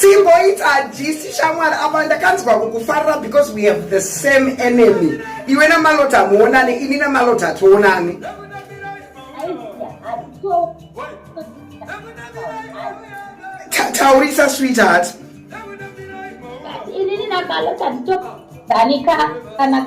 timboita jisi shamwari apa ndakanzwa kukufarira because we have the same enemy iwe namalota hamuonane ini namalota hationane taurisa sweetheart ini namalota nditodanika kana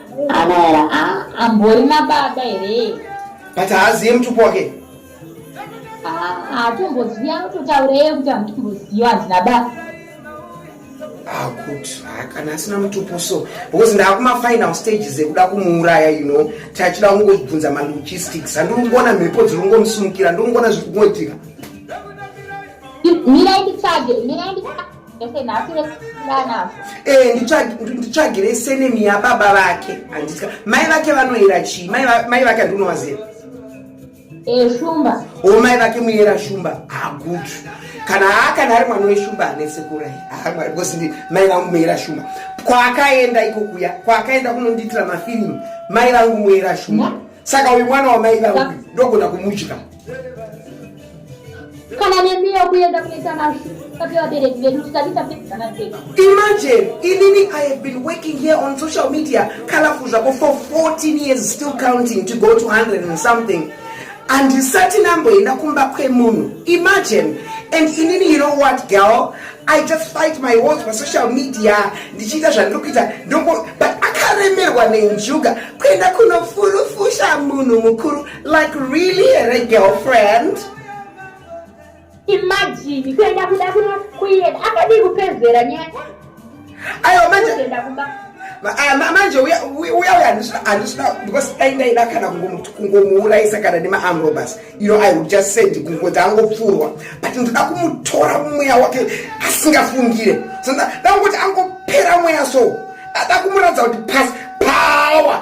Anoera ah, ambori nababa here? But haaziye mutupo wake. Ah, atomboziva anototaurei kuti amutomboziva handina baba. Ah, good. Ah, kana asina mutupo so because ndaakuma final stages ekuda kumuuraya you know tachida kungobvunza ma logistics handiri kungoona mhepo dziri kungomusumukira ndiri kungoona zviri kungoitika. Mira nditsvage, mira nditsvage. Eh, nditsvagirei senemi yababa vake handitya mai vake vanoyera chii mai vake handinovaziva eh, shumba o oh, mai vake muyera shumba hagud ah, kana haa kana ari mwana weshumba ane sekurai haamwari ah, because ndi mai vangu muyera shumba kwaakaenda iko kuya kwaakaenda kunondiitira mafirimu mai vangu muyera shumba saka uyu mwana wamai vangu ndogona kumudya kana nemiyo kuenda kunoita mazvi papevabereki vedu tisati tapedzana sei imagine inini i have been working here on social media colorful zvako for 14 years still counting to go to 100 and something handisati namboenda kumba kwemunhu imagine and inini you know what girl i just fight my wars pasocial media ndichiita zvandiri kuita ndongo but akaremerwa nenjuga kuenda kunofurufusha munhu mukuru Like really here girlfriend? Imagine kuenda kuda kuno kuenda akadii kupedzera nyaya. Ayo manje kuenda kumba. Ah, manje uya uya handisina handisina because aindaida kana kungomuurayisa kana nemaamrobas you know i would just send kungozi angopfurwa but ndoda kumutora mweya wake asingafungire so ndakungoti angopera mweya so ndada kumuratidza kuti pas power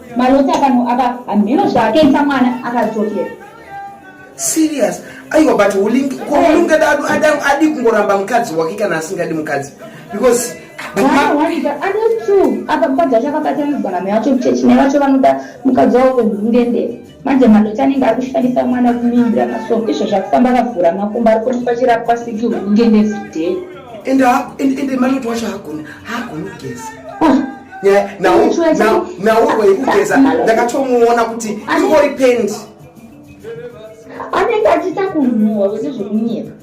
Malota pano apa hameno zvaakaita mwana akadzokera. Serious. Aiwa but ulingi kwa ulingi dadu adam adi kungoramba mukadzi wake kana asingadi mukadzi because anotu apa mukadzi wacho akabatanidzwa name yacho mchechi nevacho vanoda mukadzi wavo kwenhundendere manje madota anenge ari kushandisa mwana kumuimbira masong izvo zvakufamba akavhura makumba ari kuonekwa achirapwa siki hunge nezidhee ende madota wacho haagoni haagoni kugeza nawo waikugeza ndakatomuona kuti ingori pendi anenge achita kunhuwa wese zvekunyika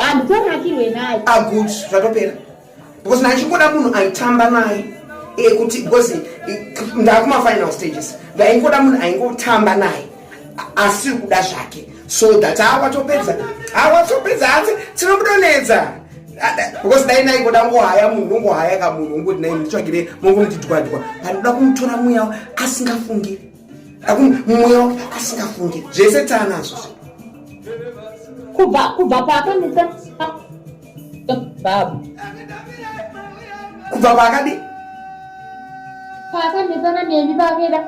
handitonakirwe eh, naye agud ah, zvatopera because ndaichingoda munhu aitamba naye eh, kuti because eh, ndakumafinal stages ndaingoda munhu aingotamba naye asiri kuda zvake so that awatopedza awatopedza hanzi tinomutonedza because dai ndaingoda ngohaya munhu ndongohaya ka munhu ungoti nai nditsvagire mongomutidwadwa pandoda kumutora mweya asingafungiri mumwe wake asingafunge zvese taanazvo kubva kubva paakanisa babu kubva paakadi paakanesana nemi pakeda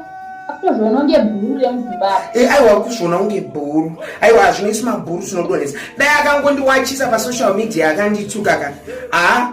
akutozviona kunge bhuru remuzimbabwe e aiwa kuzviona kunge bhuru aiwa hazvinesi mabhuru tinodonesa dai akangondiwachisa pasoshal media akandituka ka haa